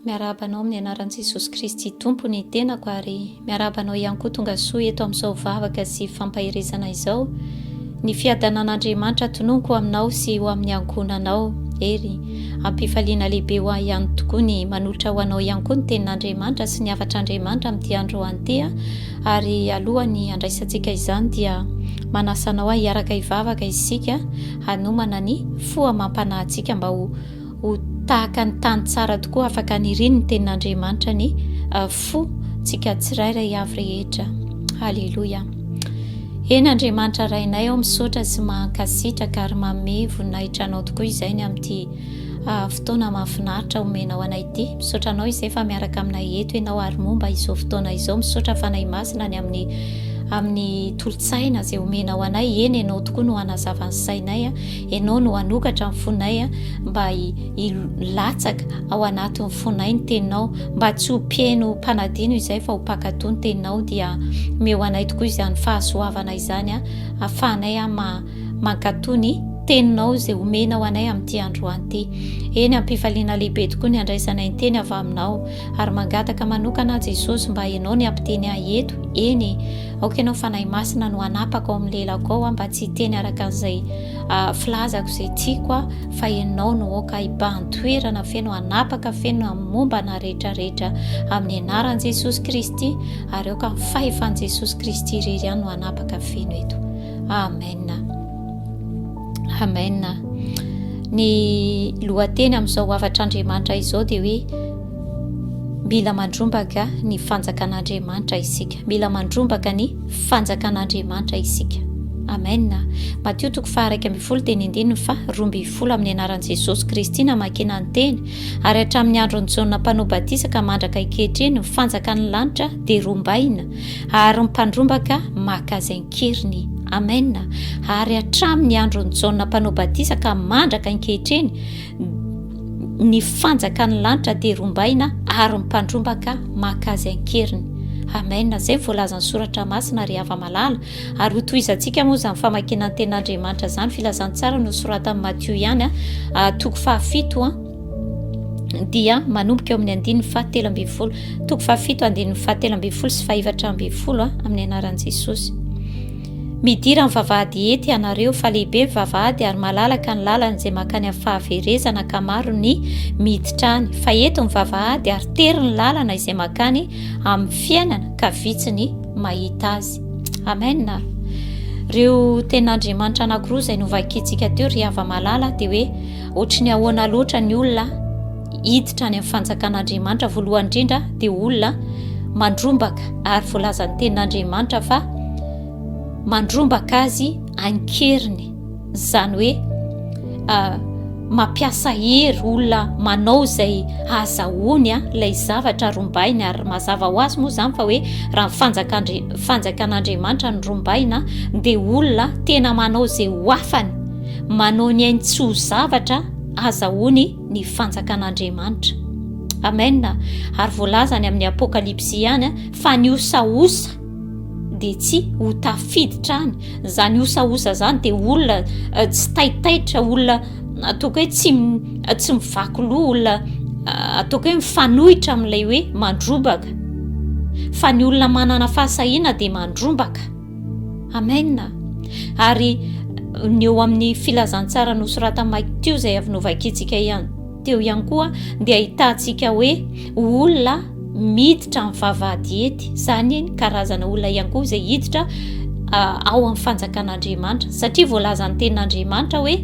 Miarahaba anao amin'ny anaran'i Jesosy Kristy Tompo ny tenako ary miarahaba anao ihany koa tonga soa eto amin'izao vavaka sy fampaherezana izao. Ny fiadanan'Andriamanitra tononiko aminao sy ho amin'ny ankohonanao. Hery, ampifaliana lehibe ho ahy ihany tokoa ny manolotra ho anao ihany koa ny tenin'Andriamanitra sy ny hafatr'Andriamanitra amin'ity andro an'ity ary alohan'ny handraisantsika izany dia manasa anao ahiaraka hivavaka isika hanomana ny fo amam-panahy antsika mba ho ho tahaka ny tany tsara tokoa afaka hanirian'ny tenin'Andriamanitra ny fo tsika tsirairay avy rehetra. Haleloia. Eny Andriamanitra Rainay ao misaotra sy mankasitraka ary manome voninahitra anao tokoa izay ny amin'ity fotoana mahafinaritra omenao anay ity. Misaotra anao izay fa miaraka aminay eto ianao ary momba izao fotoana izao. Misaotra Fanahy Masina ny amin'ny amin'ny tolotsaina izay omenao anay. Eny ianao tokoa no hanazava ny sainay. Ianao no hanokatra ny fonay mba hilatsaka ao anatin'ny fonay ny teninao mba tsy ho pieno mpanadino izay fa ho mpakatò ny teninao dia meo anay tokoa izany fahasoavana izany ahafahanay ama Mankatoa ny Teninao izay omenao anay amin'ity androany ity. Eny, am-pifaliana lehibe tokoa ny handraisanay ny Teny avy Aminao. Ary mangataka manokana aho, Jesosy, mba Ianao ny hampiteny ahy eto. Eny e! Aoka Ianao Fanahy Masina no hanapaka ao amin'ny lelako ao aho mba tsy hiteny araka an'izay filazako, izay tiako aho, fa Ianao no aoka hibahan-toerana feno, hanapaka feno amin'ny momba anà rehetra rehetra, amin'ny Anaran'i Jesosy Kristy, ary aoka ny Fahefan'i Jesosy Kristy irery ihany no hanapaka feno eto. Amen. Amen. Ny lohateny amin'izao havatr'Andriamanitra izao dia hoe mila mandrombaka ny fanjakan'Andriamanitra isika. Mila mandrombaka ny fanjakan'Andriamanitra isika. Amen. Matio toko faharaiky ambin'ny folo teny andininy fa roa ambin'ny folo amin'ny anaran'i Jesosy Kristy namakina ny teny ary hatramin'ny andron'i Jaona mpanao batisa ka mandraka ankehitriny ny fanjakan'ny lanitra dia rombaina ary ny mpandrombaka maka izay an-keriny. Amena. Ary hatramin' ny andron' i Jaona Mpanao Batisa ka mandraka ankehitriny, ny fanjakan' ny lanitra dia rombaina ary ny mpandrombaka maka azy an-keriny. Amena. Izay ny voalazan' ny Soratra Masina, ry hava-malala. Ary hotohizantsika moa izany famakiana ny Tenin' Andriamanitra izany, Filazantsara nosoratan'i Matio ihany, toko fahafito. dia manomboka eo amin'ny andininy fahatelo ambin'ny folo toko fahafito andininy fahatelo ambin'ny folo sy fahefatra ambin'ny folo a ah, amin'ny anaran'i jesosy midira ny vavahady ety ianareo fa lehibe ny vavahady ary malalaka ny lalana izay makany amin'ny fahaverezana ka maro ny miditrany fa eto ny vavahady ary tery ny lalana izay makany amin'ny fiainana ka vitsy ny mahita azy amena reo ten'andriamanitra anakiroa izay novakitsika teo ry hava-malala dia hoe Ohatry ny ahoana loatra ny olona hiditra any amin'ny fanjakan'Andriamanitra? Voalohany indrindra dia olona mandrombaka ary voalazan'ny tenin'Andriamanitra fa mandrombaka azy ankeriny, izany hoe ah, mampiasa hery olona manao izay hazahoany ah, ilay zavatra rombainy ary mazava ho azy moa izany fa hoe raha fanjakan'Andriamanitra ny rombaina dia olona tena manao izay ho afany manao ny ainy tsy ho zavatra aza hono ny fanjakan'Andriamanitra. Amen. Ary voalazany amin'ny Apokalypsy ihany fa ny osaosa dia tsy ho tafiditra any. Izany osaosa izany dia olona eh, tsy taitaitra, olona ataoko hoe tsy eh, tsy mivaky loha, olona eh, ataoko hoe mifanohitra amin'ilay hoe mandrobaka. Fa ny olona manana fahasahiana dia mandrombaka. Amen! Ary ny eo amin'ny filazantsara nosoratan'i Mike teo izay avy novakiantsika ihany teo ihany koa dia ahitantsika hoe olona miditra amin'ny vavahadiety, izany ny karazana olona ihany koa izay hiditra ao amin'ny fanjakan'Andriamanitra satria voalazan'ny tenin'Andriamanitra hoe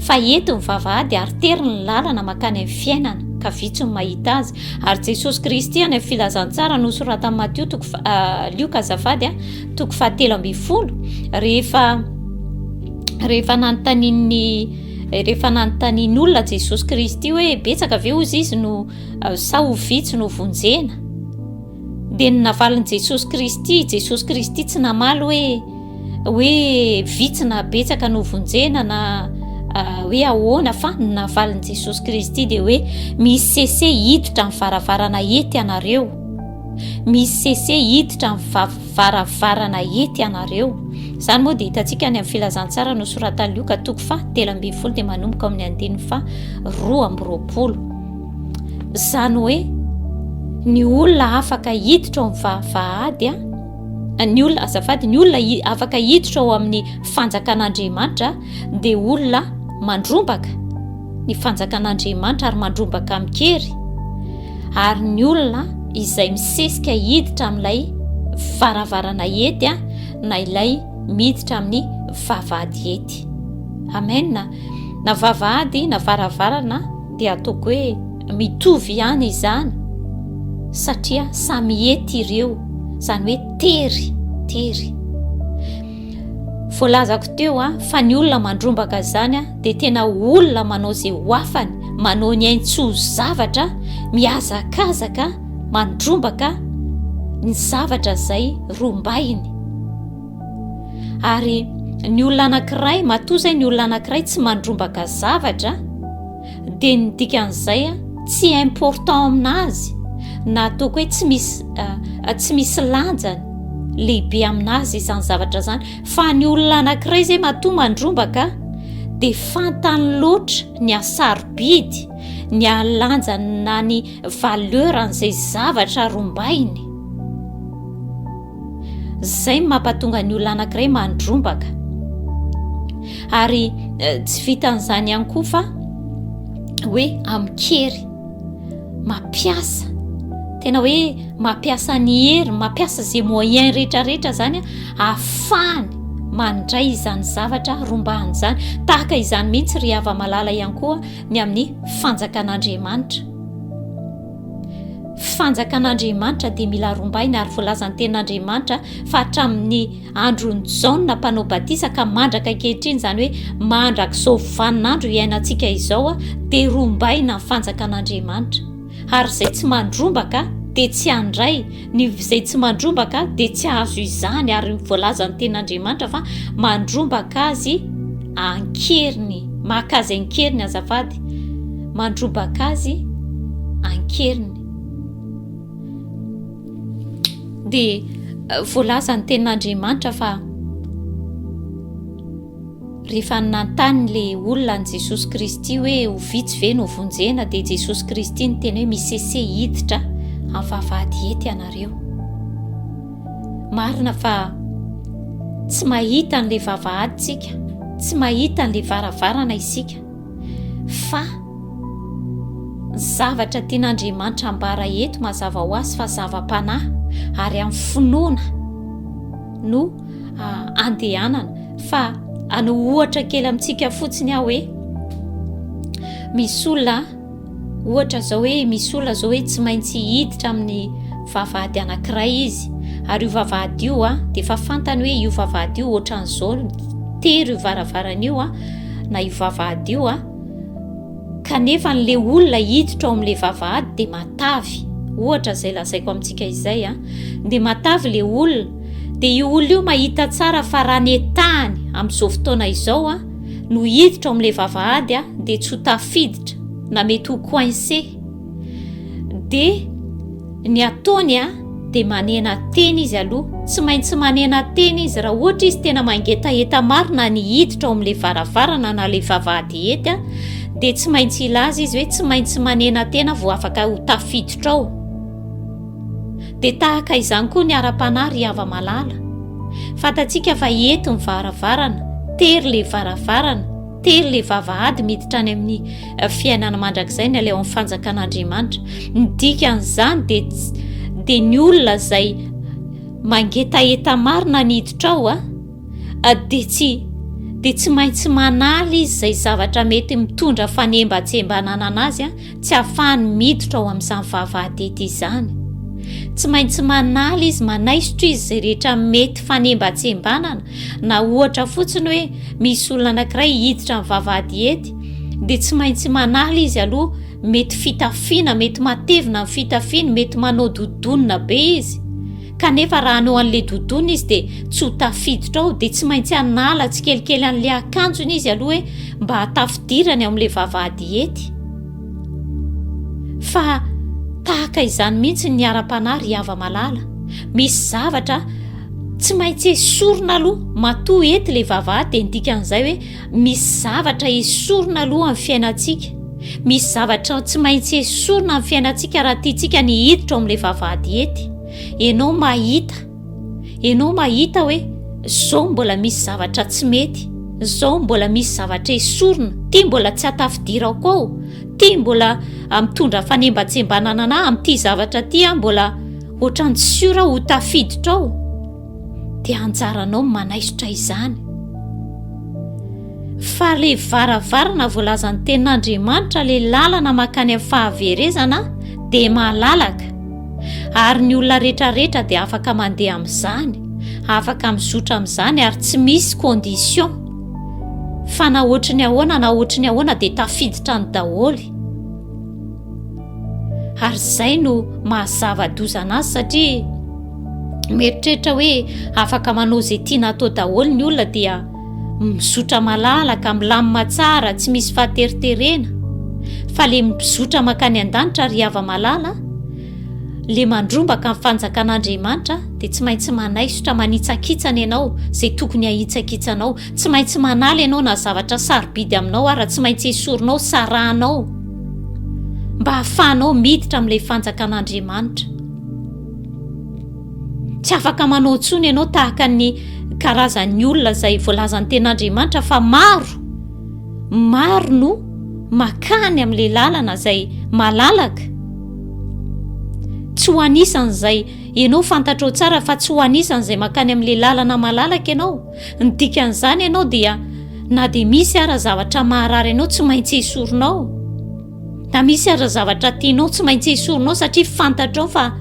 fa eto ny vavahady ary tery ny lalana makany amin'ny fiainana ka vitsy ny mahita azy Ary Jesosy Kristy any amin'ny filazantsara nosoratan'i Matio toko fa- ah, Lioka azafady a, toko fahatelo ambin'ny folo rehefa rehefa nanontanian'ny rehefa nanontanian'olona Jesosy Kristy hoe betsaka ve hozy izy no ah, sa ho vitsy no vonjena. Dia ny navalin'i Jesosy Kristy, Jesosy Kristy tsy namaly hoe hoe vitsy na betsaka no vonjena na hoe ahoana fa ny navalin'i Jesosy Kristy dia hoe misy sese hiditra ny varavarana ety ianareo misy sese hiditra ny varavarana ety ianareo izany moa dia hitantsika any amin'ny filazantsara no soratan'lioka toko fa telo ambin'ny folo dia manomboka amin'ny andininy fa roa amby roapolo Izany hoe ny olona afaka hiditra ao amin'ny vahady ny olona azafady ny olona afaka hiditra ao amin'ny fanjakan'Andriamanitra dia olona mandrombaka ny fanjakan'Andriamanitra ary mandrombaka amin-kery ary ny olona izay misesika hiditra amin'ilay varavarana hety a na ilay miditra amin'ny vavahady hety amena na vavahady na varavarana Dia ataoko hoe mitovy ihany izany satria samy hety ireo, izany hoe tery, tery. Voalazako teo a, fa ny olona mandrombaka izany a, dia tena olona manao izay ho afany, manao ny ainy tsy ho zavatra, mihazakazaka, mandrombaka ny zavatra izay rombainy. ary ny olona anankiray matoa zay ny olona anankiray tsy mandrombaka zavatra dia ny dikan'izay a tsy important amina azy na ataoko hoe tsy misy eh, eh, tsy misy lanjany lehibe amina azy izany zavatra zany fa ny olona anankiray zay matoa mandrombaka dia fantany loatra ny asarobidy ny alanjany na ny valeur an'izay zavatra rombainy Izay no mampatonga ny olona anankiray mandrombaka. Ary eh, tsy vitan'izany ihany koa fa hoe amin-kery, mampiasa tena hoe mampiasa ny hery mampiasa izay moyen rehetrarehetra izany ahafahany mandray izany zavatra rombahany izany tahaka izany mihitsy ry hava-malala ihany koa ny amin'ny fanjakan'andriamanitra Fanjakan'Andriamanitra dia mila rombaina ary voalazan'ny tenin'Andriamanitra fa hatramin'ny andron'i Jaona mpanao batisa ka mandraka ankehitriny izany hoe mandrak'izao vaninandro iainantsika izao dia rombaina ny fanjakan'Andriamanitra ary izay tsy mandrombaka dia tsy handray Ny izay tsy mandrombaka dia tsy ahazo izany ary ny voalazan'ny tenin'Andriamanitra fa mandrombaka azy ankeriny. Maka azy ankeriny azafady. Mandrombaka azy ankeriny. Dia eh, voalazan'ny tenin'Andriamanitra fa Rehefa nanontany le olona an'i Jesosy Kristy hoe ho vitsy ve no vonjena dia Jesosy Kristy niteny hoe misese hiditra amin'ny vavahady hety ianareo. Marina fa tsy mahita an'le vavahady tsika, tsy mahita an'le varavarana isika fa zavatra tian'Andriamanitra ambara eto mazava ho azy fa zava-panahy ary amin'ny finoana no andehanana fa ano ohatra kely amintsika fotsiny aho hoe misy olona ohatra zao hoe misy olona zao hoe tsy maintsy hiditra amin'ny vavahady anankiray izy ary io vavahady io a de efa fantany hoe io vavahady io ohatran'izao tery io varavarana io a na io vavahady io a kanefa n'le olona hiditra ao am'le vavahady de matavy ohatra zay lazaiko amintsika izay a de matavy le olona dia io olona io mahita tsara fa raha netahany amin'izao fotoana izao a no hiditra ao amin'ilay vavahady a dia tsy ho tafiditra na mety ho coincé dia ny ataony a dia manena tena izy aloha tsy maintsy manena tena izy raha ohatra izy tena mangetaheta marina ny hiditra ao amin'ilay varavarana na ilay vavahady hety a dia tsy maintsy ilaza izy hoe tsy maintsy manena tena vao afaka ho tafiditra ao Dia tahaka izany koa ny ara-panahy ry hava-malala. Fantatsika fa eto ny varavarana, tery ilay varavarana, tery ilay vavahady miditra any amin'ny eh, fiainana mandrakizay ny aleo amin'ny fanjakan'Andriamanitra. Ny dikan'izany dia dia ny olona izay mangetaheta marina ny hiditra ao a. Ah. dia tsy dia tsy maintsy manala izy izay zavatra mety mitondra fanembatsembanana anazy a tsy hahafahany miditra ao amin'izany vavahadity izany tsy maintsy manala izy manaisotra izy izay rehetra mety fanembatsembanana na ohatra fotsiny hoe misy olona anankiray hiditra amin'ny vavahadiety dia tsy maintsy manala izy aloha mety fitafiana mety matevina ny fitafiany mety manao dodonina be izy kanefa raha hanao an'le doudoune izy dia tsy ho tafiditra ao dia tsy maintsy hanala tsikelikely an'le akanjony izy aloha hoe mba hatafidirany ao amin'le vavahady hety fa tahaka izany mihitsy ny ara-panahy ry hava malala misy zavatra tsy maintsy esorina aloha matoa hety le vavahady dia ndikan'izay hoe Misy zavatra esorina aloha amin'ny fiainantsika. Misy zavatra tsy maintsy esorina amin'ny fiainantsika raha tiantsika ny hiditra ao amin'ilay vavahady hety. Ianao mahita, ianao mahita hoe zao mbola misy zavatra tsy mety, zao mbola misy zavatra esorina, ty mbola tsy atafidirako ao, ty mbola ah, mitondra fanembatsembanana anah amin'ity zavatra ty ah, mbola ohatran'ny tsy siora ho tafiditra ao. dia anjaranao ny manaisotra izany. Fa ilay varavarana voalazan'ny tenin'Andriamanitra, ilay lalana makany amin'ny fahaverezana dia malalaka, ary ny olona rehetrarehetra dia afaka mandeha amin'izany, afaka mizotra amin'izany ary tsy misy condition. Fa na ohatry ny ahoana na ohatry ny ahoana dia tafiditra ny daholo. ary izay no mahazava-dozana azy satria mieritreritra hoe afaka manao izay tiana atao daholo ny olona dia mizotra malalaka milamina tsara tsy misy fahateriterena fa le mizotra makany an-danitra ry hava malala le mandrombaka ny fanjakan'andriamanitra dia tsy maintsy manaisotra manitsakitsana ianao izay tokony hahitsakitsanao Tsy maintsy manala ianao na zavatra sarobidy aminao ara, tsy maintsy esorinao, sarahanao mba hahafahanao miditra amin'ilay fanjakan'Andriamanitra. Tsy afaka manao intsony ianao tahaka ny karazan'ny olona izay voalazan'ny ten'Andriamanitra fa maro, maro no makany amin'ilay lalana izay malalaka. Tsy ho anisan'izay ianao fantatrao tsara fa tsy ho anisan'izay makany amin'ilay lalana malalaka ianao. Ny dikan'izany ianao dia na dia misy ara zavatra maharary ianao tsy maintsy esorinao. Na misy ara zavatra tianao tsy maintsy esorinao satria fantatrao fa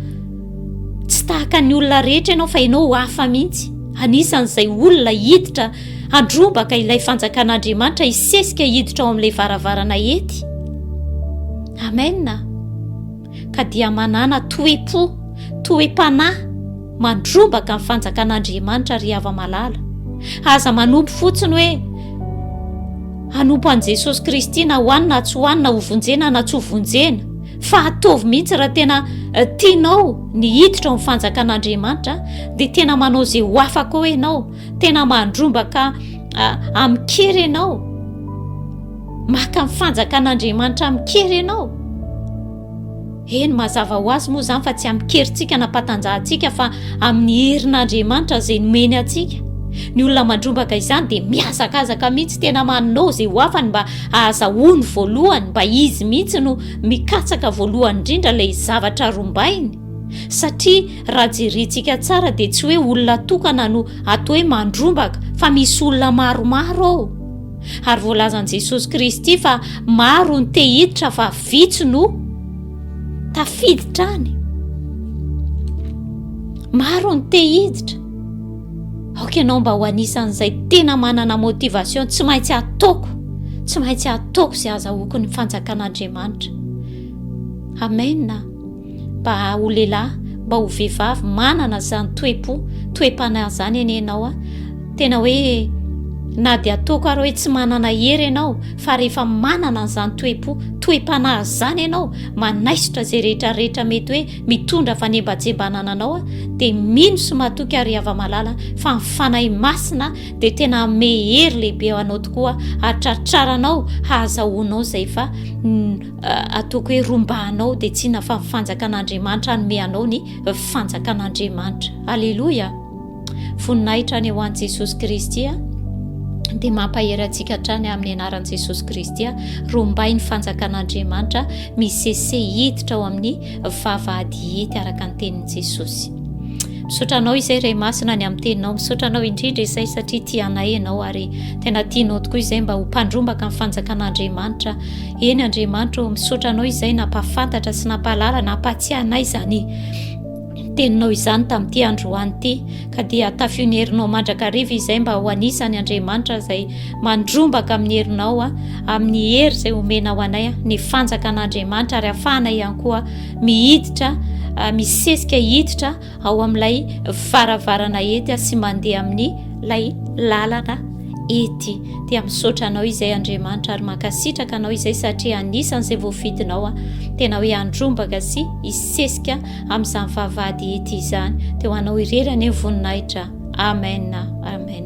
tsy tahaka ny olona rehetra ianao fa ianao ho hafa mihitsy. Anisan'izay olona hiditra handrobaka ilay fanjakan'Andriamanitra hisesika hiditra ao amin'ilay varavarana hety. Amen. ka dia manàna toe-po, toe-panahy mandrombaka ny fanjakan'Andriamanitra ry hava-malala. Aza manompo fotsiny hoe hanompo an'i Jesosy Kristy na hoany na tsy hoany, na hovonjena na tsy hovonjena, fa ataovy mihitsy raha tena tianao ny hiditra ao amin'ny fanjakan'Andriamanitra dia tena manao izay ho afaka ao ianao, tena mandrombaka amin-kery ianao maka ny fanjakan'andriamanitra amin-kery ianao eny mazava ho azy moa izany fa tsy amin-kerintsika nampatanjahantsika fa amin'ny herin'andriamanitra izay nomeny antsika ny olona mandrombaka izany dia mihazakazaka mihitsy tena manao izay ho afany mba ahazahoany voalohany mba izy mihitsy no mikatsaka voalohany indrindra ilay zavatra rombainy satria Raha jerintsika tsara dia tsy hoe olona tokana no ato hoe mandrombaka fa misy olona maromaro ao. Ary voalazan'i Jesosy Kristy fa maro ny te hiditra fa vitsy no tafiditra any. Maro ny te hiditra. Aoka ianao mba ho anisan'izay tena manana motivation tsy maintsy ataoko, tsy maintsy ataoko izay azahoako ny fanjakan'Andriamanitra. Amen. Mba ho lehilahy, mba ho vehivavy manana izany toe-po, toe-panahy izany anie ianao a. Tena hoe na dia ataoko ary hoe tsy manana hery ianao fa rehefa manana an'izany toe-po, toe-panahy izany ianao, manaisotra izay rehetra rehetra mety hoe mitondra fanembajembanana anao a, dia mino sy matoky ary hava malala fa ny fanahy masina dia tena hanome hery lehibe ho anao tokoa hatratraranao hahazahoanao izay fa Ataoko hoe romba anao dia tsina fa ny fanjakan'Andriamanitra hanome anao ny fanjakan'Andriamanitra. Aleloia! Voninahitra any ho an'i Jesosy Kristy dia mampahery antsika hatrany amin'ny anaran'i Jesosy Kristy. Rombay ny fanjakan'Andriamanitra misese hiditra ao amin'ny vavahady hety araka ny tenin'i Jesosy. Misaotra anao izay Ray Masina ny amin'ny teninao. Misaotra anao indrindra izay satria tianay ianao ary tena tianao tokoa izay mba ho mpandrombaka ny fanjakan'Andriamanitra Eny Andriamanitra ô, misaotra Anao izay nampahafantatra sy nampahalala, nampahatsiahy anay izany teninao izany tamin'ity androany ity ka dia tafio ny herinao mandrakariva izay mba ho anisany Andriamanitra izay mandrombaka amin'ny herinao a amin'ny hery izay omena ho anay ny fanjakan'Andriamanitra ary afahana ihany koa mihiditra misesika hiditra ao amin'ilay varavarana ety sy mandeha amin'ny lay lalana ety dia misaotra anao izay Andriamanitra ary mankasitraka anao izay satria anisan'izay voafidinao a tena hoe andrombaka sy isesika amin'izany vavahady ety izany dia ho anao irery anie voninahitra amen amen